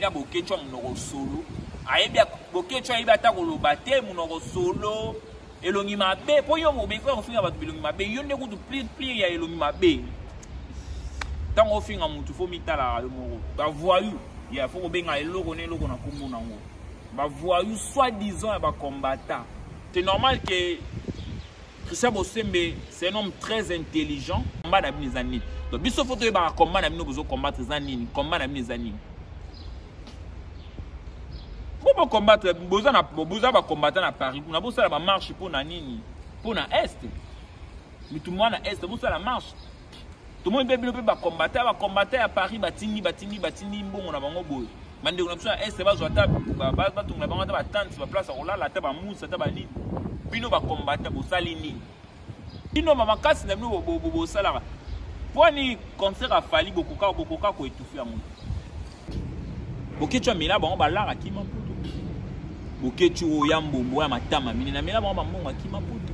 na boketsho monoko solo ayebi boketsho ayebi ata koloba te monoko solo elongi mabe mpo yo mobeko ya kofinga bato bilongi mabe yo nde kutu plire plire ya elongi mabe ntango ofinga motu fo mitalaka yo moko bavoyu ya fo kobenga eloko na eloko na nkombo nango bavoyu soit disant ya bacombatant c'est normal ke Christian Bosembe c'est un homme très intelligent combat na bino eza nini donc biso fo toyebaka combat na bino bozo combattre eza nini combat na bino eza nini po bocombattre boza na boza bacombatant na paris kuna bosala bamarche mpo na nini mpo na est mitu mwana est bosala marche tomoni mpe bino mpe bakombata bakombata ya paris batindi batindi batindi mbongo na bango boye bandeko na biso ya este bazwa ata batongela bango ata batante baplace ya kolala ata bamusa ata banini bino bakombata bosali nini bino bamakasi na bino bosalaka mpo ni concert afali bokoka bokoka koetufi yango boketsu amela bango balaka kima mputu boketsu oyo ya mbombo ya matama minene amela bango bambongo akima mputu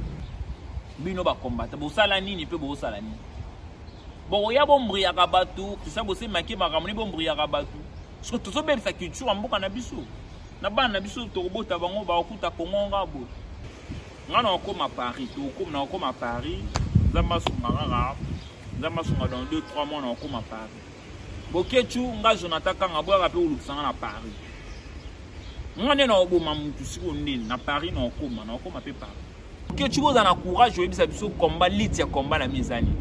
bino ba combattant bosala nini mpe bosala nini bokoya bombriyaka bato tosa bosemaki makambo ni bombriyaka bato soki tozobebisa culture ya mboka na biso na bana na biso tokobota bango bakokuta kongo nga boye ngai nakokoma paris tokokoma nakokoma paris nzambe asunga kaka nzambe asunga dans 2 3 mois nakokoma paris bokecu ngai jonathan kanga boyaka mpe olukisa ngai na paris ngai nde nakoboma motu sikoyo nde na paris nakokoma nakokoma mpe paris kechu boza na courage oyebisa biso combat lit ya combat na mi ezani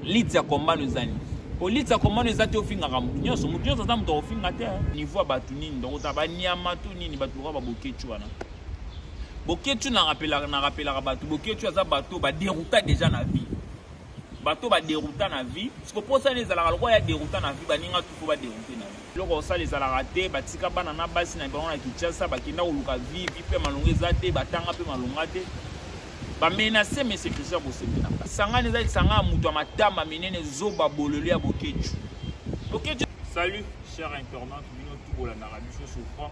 lit ya combat no ezani po lit ya combat no eza te ofingaka motu nyonso motu nyonso aza moto akofinga te niveau ya bato nini donc ota banyama to nini bato lokola babokechu wana bokechu na rapelaka bato bokechu aza bato baderouta déjà na vie bato baderouta na vie sikoposani ezalaka lokola ya derouta na vie baninga tufo baderoute na vie eloko osala ezalaka te batika bana na basi na bango na kinshasa bakenda koluka vie vie mpe malonga eza te batanga mpe malonga te bamenase mese christian kosepela sangani eza lisanga ya moto ya matama minene zoba bolole ya bokecu bokecu salut cher internaute bino tu bolandaka biso souvent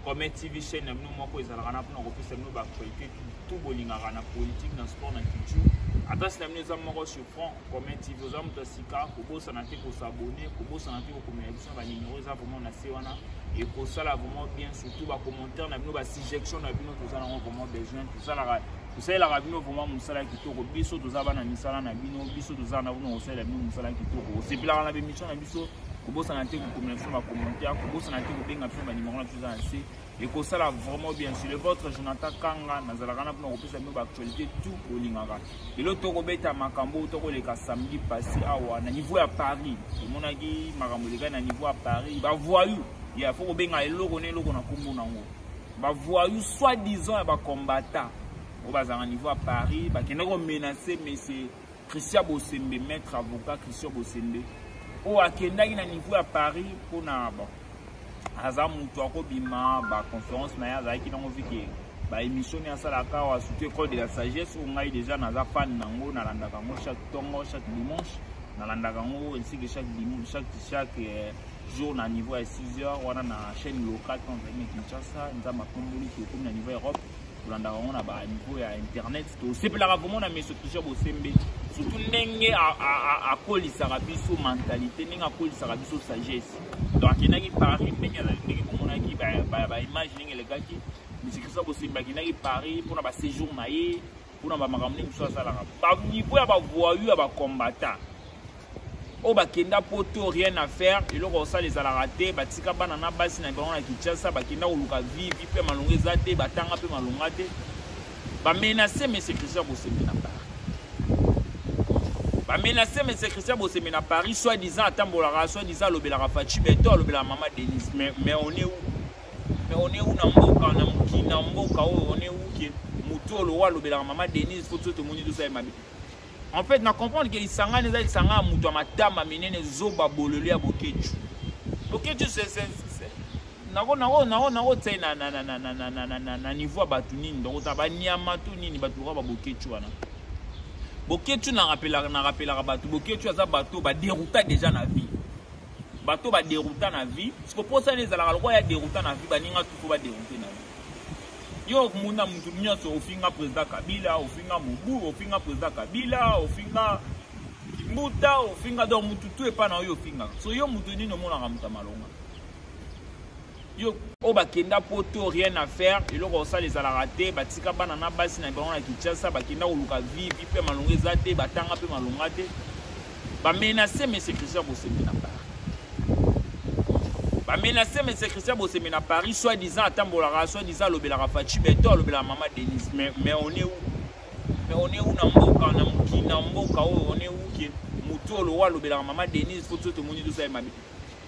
comme tv chaîne na bino moko ezalaka na mpona kopesa bino baactualité tu bolingaka na politique na sport na culture adresse na bino eza moko sur front Comet TV oza moto ya sika kobosana te kosabone kobosana te kokomela biso na banimero eza vraiment na se wana ekosala vraiment bien surtout bacommentaire na bino basuggestion na bino toza nango vraiment besoin tosalaka tosalelaka bino vraiment mosala kitoko biso toza bana misala na bino biso toza na bino kosalela bino mosala kitoko osepelaka na bemission na biso kobosana te kokomela biso bacommentaire kobosana te kobenga biso banimero na biso eza na se ekosala vraiment bien sur le votre jonathan kanga nazalaka na mpona kopesa bino baactualité tout bolingaka lelo tokobeta makambo tokoleka samedi passé awa na niveau ya paris tomonaki makambo elekaki na niveau ya paris bavoyou ya fo kobenga eloko na eloko na nkombo nango bavoyou soit disant ya bacombatant oyo bazalaka niveau ya paris bakendaki komenace monsieur Christian Bosembe, maître avocat Christian Bosembe, oyo akendaki na niveau ya Paris mpo na bon, aza moto akobima ba conférence na ye azalaki nango vike ba émission ne asalaka awa surtout école de la sagesse oyo ngai déjà naza fan na yango nalandaka yango chaque tongo chaque dimanche nalandaka yango ainsi que chaque dimanche chaque chaque euh, jour na niveau ya 6 heures wana na chaîne locale mpo nazalaki na kinshasa nzambe akomboli tokomi na niveau europe tolandaka yango na baniveau ya internet tosepelaka komona meso kisha bosembe surtout ndenge akolisaka biso mentalité ndenge akolisaka biso sagesse donc akendaki paris ndenge azali ndenge komonaki baimage ndenge elekaki meso kisha bosembe akendaki paris mpona baséjour na ye mpona bamakambo nini mosusu asalaka baniveau ya bavoyu ya bacombata oyo bakenda poto rien à faire eloko osala ezalaka te batika bana na basi na bango na kinshasa bakenda koluka vivi mpe malonga eza te batanga mpe malonga te bamenase mese christian bosemi na paris bamenase mese christian bosemi na paris soit disant atambolaka soit disant alobelaka faci beto alobelaka mama denise mais, mais on est où Mais on est où na mboka na mokili na mboka oyo oh, on est où que moto oyo lowa alobelaka mama denise fo soki tomoni tosali mabe en fait na comprendre ke lisangani eza lisanga ya moto ya matama minene zoba bololi ya bokecu bokecu nakotai na niveau ya bato nini dokota banyama to nini bato lokola babokecu wana bokecu na rapelaka bato bokecu aza bato baderouta déjà na vie bato ba derouta na vie siko posa na ezalaka lokola ya derouta na vie baninga tuko ba deroute na vie yo okomona motu nyonso ofinga président kabila ofinga mobu ofinga président kabila ofinga mbuta ofinga donc motu tu epai na oyo ofingaka so yo motu nini omonaka moto ya malonga yo oyo bakenda poto rien à faire eloko osala ezalaka te batika bana na basi na bango na kinshasa bakenda koluka vivi mpe malonga eza te batanga mpe malonga te bamenase monsieur christian bosembe na paris bamenase monsieur christian bosembe na paris soit disant atambolaka soit disant alobelaka faci beto alobelaka mama denise mais, mais on est où mais on est où na mboka na mokili na mboka oyo on est où ke motu olowa alobelaka mama denise fo to tomoni tosali mabe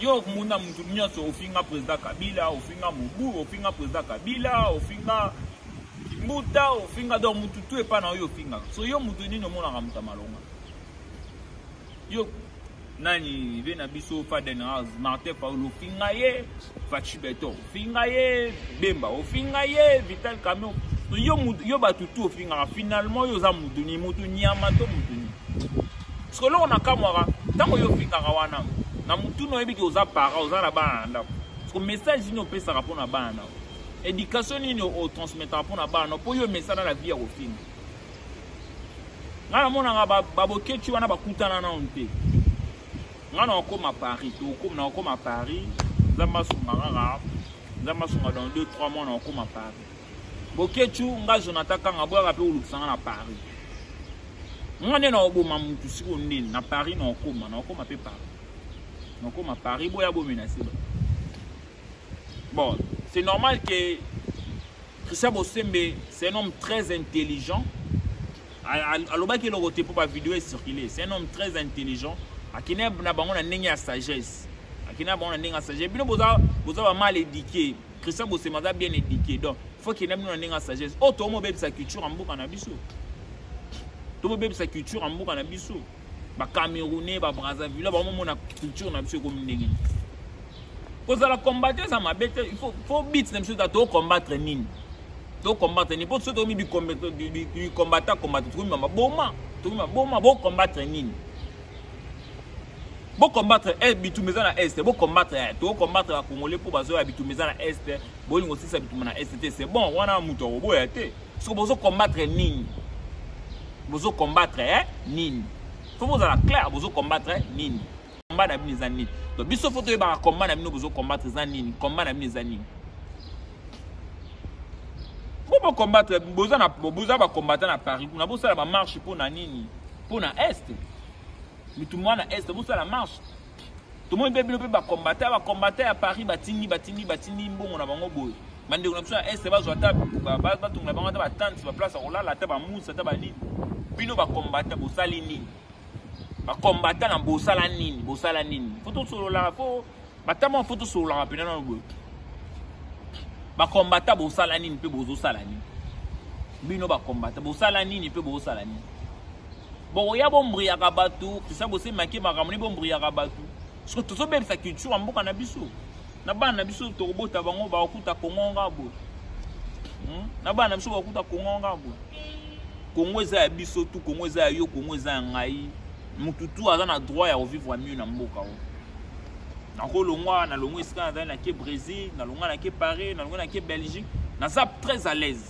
Yo okomona mutu nyonso ofinga president Kabila, ofinga Mobu, ofinga president Kabila, ofinga Kimbuta, ofinga donc mutu tu epa na yo ofingaka. So yo mutu nini omonaka mutu malonga? Yo nani bena biso Faden House, Martin Paolo ofinga ye, Fachi Beton. finga ye bemba ofinga ye vital camion yo, yo bato tu ofingaka finalement yo oza muduni mutu nyama to muduni soki eloko nakamwaka ntango yo ofingaka wana na mutuni oyebi ke oza para oza na bana na ndako soki message nini opesaka mpo na bana nao éducation nini otransmetaka mpo na bana nao mpo yo emesana na vie ya kofinga ngai namonaka babokeci wana bakutana nao te nga na okoma paris tokoma na okoma paris nzambe asunga kaka nzambe asunga dans 2 3 mois na okoma paris bokechu nga jonathan kanga boyaka mpe olukisa nga na paris nga nde na oboma motu siko ndeni na paris na okoma na okoma mpe paris na okoma paris boya bomenase ba bon c'est normal que christian bosembe c'est un homme très intelligent alobaki eloko te mpo bavideo ecircule c'est un homme très intelligent akende na bango na ndenge ya sagesse akende na bango na ndenge ya sagesse bino boza bamal édike christian bosema aza bien édike donc faut kende bino na ndenge ya sagesse oyo oh, tomobebisa culture ya mboka na biso tomobebisa culture ya mboka na biso ba camerounais ba brazzaville bango mona culture na biso ekomi ndenge nini kozala combattre eza mabe te fo bit na biso eza tocombattre nini tocombattre nini mpo so tokomi bicombata combata tokomi maboma tokomi maboma bocombattre nini bocombattre eh, bitumba eza na este bocombattre eh, tocombattre bacongolais mpo bazoya bitumba eza na este bolingo osilisa bitumba na este te c'est bon wana moto akoboya te siko bozo combattre nini bozo combattre eh? nini fo bozala claire bozo combattre eh? nini combat na bino eza nini to biso fo toyebaka combat na bino bozo combattre eza nini combat na bino eza nini po bocombattre boza na boza bacombatant na paris kuna bosala bamarche mpo na nini mpo na est mitu mwana est bosala marche tomoni mpe bino mpe bakombata bakombata ya paris batindi batindi batindi mbongo na bango boye bandeko na biso ya este bazwa ata batongela bango ata batante baplace ya kolala ata bamusa ata banini bino bakombata bosali nini bakombata na bosala nini bosala nini fo tosololaka fo batama fo tosololaka mpena nano boye bakombata bosala nini mpe bozosala nini bino bakombata bosala nini mpe bozosala nini bokoya bombriyaka bato krista bose make makambo nde bombriyaka bato soki tozobebisa culture ya mboka na biso na bana na biso tokobota bango bakokuta kongo nga boye hmm? na bana na biso bakokuta kongo nga boye kongo eza ya biso tu kongo eza ya yo kongo eza ya ngai motu tu aza na droit ya kovivre mieux na mboka oyo nakolongwa nalongwa esika nazali nake brésil nalongwa nake paris nalongwa nake belgique naza très à l'aise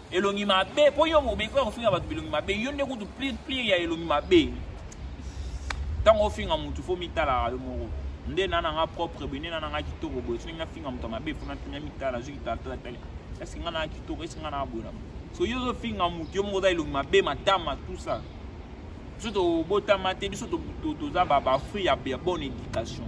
elongi mabe po yo mobeko ya kofinga bato bilongi mabe yo nde kutu plire ya elongi mabe ntango ofinga motu fo mitalaka yo moko nde na nanga propre boye nde na nanga kitoko boye soki nafinga moto ya mabe fo natuna mitala nazwi kitalatala eske nga nanga kitoko eske nga nanga boye na so yo ozofinga motu yo moko oza elongi mabe matama tout ça biso tobotama te biso toza bafruit ya bonne éducation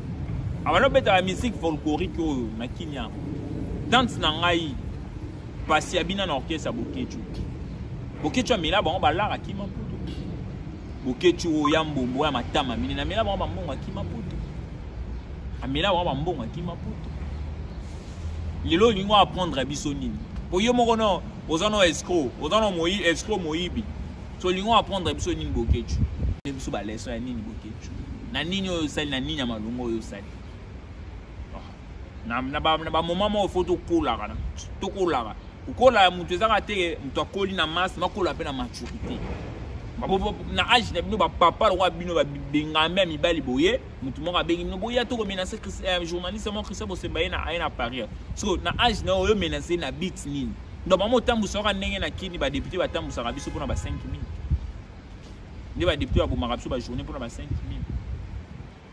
abanda obeta ba musique folklorique oyo na kimia tante na ngai pasi abina na orchestre ya bokechu bokechu amela bango balaka kima mputu bokechu oyo ya mbombo ya matama mine na mela bango bambongo akima mputu amela bango bambongo akima mputu lelo olingi oapprendre biso nini mpo yo moko no oza no escro oza no moi escro moyibi so olingi oapprendre biso nini bokechu biso baleso ya nini bokechu na nini oyo osali na nini ya malonga oyo osali ah, na bamoma moko fo tokolaka tokolaka kokola ya moto ezaka te moto akoli na masse makola mpe na maturité na age na bino bapapa lokola bino babengami ya mibali boye moto moko abengi bino boya tokomenase euh, journaliste moko christian bosemba ye aye na paris so na age na oyo menase na bit nini donc bango otambwisaka ndenge na kini badepute batambwisaka biso mpona ba 5 minutes nde badepute babomaka biso bajournée mpona ba 5000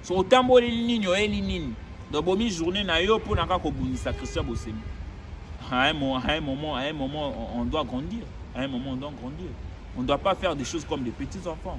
so otamboli nini oyeli nini donc bomi journée na yo mpona kaka kobundisa christian bosemi à un moment, à un moment, à un moment on, on doit grandir. À un moment, on doit grandir. On ne doit pas faire des choses comme des petits-enfants.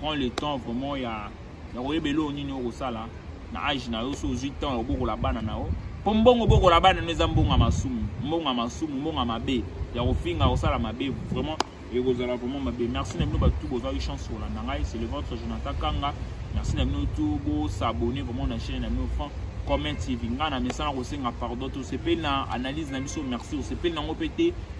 prends le temps vraiment ya ya koyeba eloko nini okosala na age na yo so ozwi temps ya kobokola bana na yo mpo mbongo obokola bana no eza mbongo ya masumu mbongo ya masumu mbongo ya mabe ya kofinga kosala mabe vraiment ekozala vraiment mabe merci na bino bato bozwaki chance kolanda ngai c'est le votre jonathan kanga merci na bino tu bosabone vraiment na chaîne na bino franc comment tv ngai na mesana kosenga pardon tosepeli na analyse na biso merci osepeli nango mpe te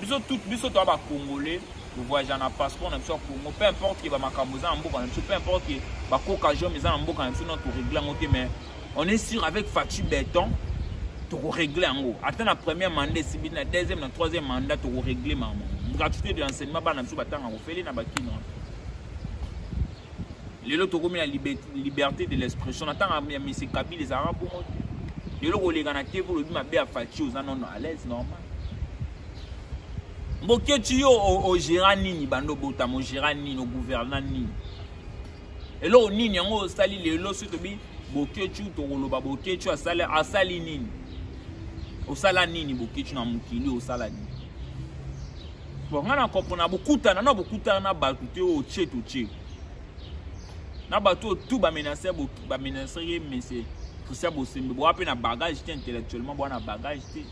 biso tout biso toa ba congolais tovoyagea na passeport na biso ya congo peu importe ke bamakambo eza na mboka na biso peu importe ke bakoka jome eza na mboka na biso no toregle yango te mais on est sûr avec faci beton tokoregle yango ata na première mandat esibi na deuxième na troisième mandat tokoregle mama gratuité de l'enseignement bana biso batanga kofele na bakino lelo tokomi na liberté de l'expression na ntango ya mese kabila ezalaka bongo te lelo koleka na tv olobi mabe ya faci oza nono à l'aise normal mbokioci yo ogera nini banda obotama ogera nini ogouverna nini eloko nini yango osali lelo soki tobi Boketshu tokoloba Boketshu asali asali nini? Osala nini Boketshu na mokili osala nini? Bon nga na comprendre bokutana na bokutana na bato te oyo tse to tse. Na bato oyo tout ba menacer ba menacer ye mais c'est Christian Bosembe boa mpe na bagage te intellectuellement boa na bagage te.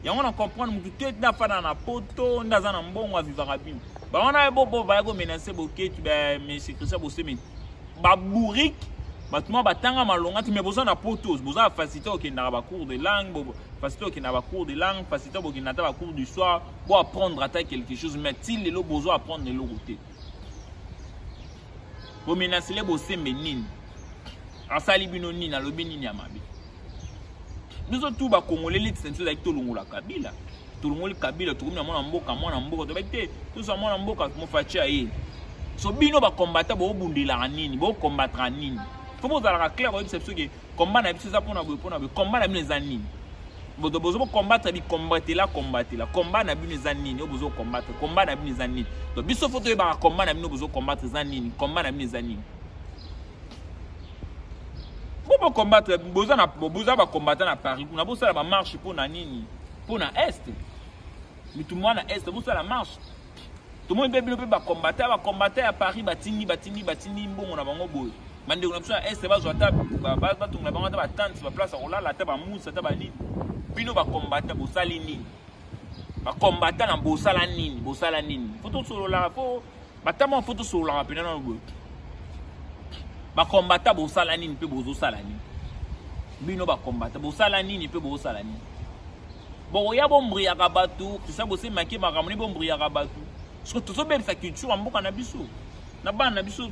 yango na comprendre motu te nde afanda na poto nde aza na mbongo avivaka bino bawana ye bobo baya komenase boketu bamesi christian bosemeni babourike bato mwa batanga malonga te mai boza na potos boza na facilité okendaka bacours de langue facilité okendaka bacours de langue facilité bokenda ata bacours du soir bo apprendre ata quelque chose mai ti lelo bozo apprendre eloko te bomenasele bosembe nini asali bino nini alobi nini ya mabe biso tu bakongole leti na biso ezalaki tolongola kabila tolongoli kabila tokomi na mwana mboka mwana mboka tobaki te tozwa mwana mboka mofaci aye so bino bakombata bobundelaka nini bokombataka nini fo bozalaka claire koyebisa biso ke komba na biso eza mpona boye mpona boye komba na bino eza nini boto bozo bokombatre bikombatela kombatela komba na bino eza nini oyo bozo kombatre komba na bino eza nini to biso fo toyebaka komba na bino bozo kombatre eza nini komba na bino eza nini Bo bo combattre boza na boza ba combattant na Paris kuna bo sala ba marche pour na nini? Pour na est. Mitu mwana est bo sala marche. Tomoni mpe bino mpe ba combattant ba combattant ya Paris batindi batindi batindi mbongo na bango boye. Bandeko na biso ya est bazwa ata batungola bango ata ba tente ba place ya kolala ata ba musa ata ba nini. Bino ba combattant bosali nini? Ba combattant na bosala nini? Bosala nini? Faut tosolola po batama fo tosololaka mpena nano boye bakombata bosala nini mpe bozosala nini bino bakombata bosala nini mpe bozosala nini bokoya bombriyaka bato kristien bosemaki makambo ni bombriyaka bato soki tozobebisa culture ya mboka na biso na bana na biso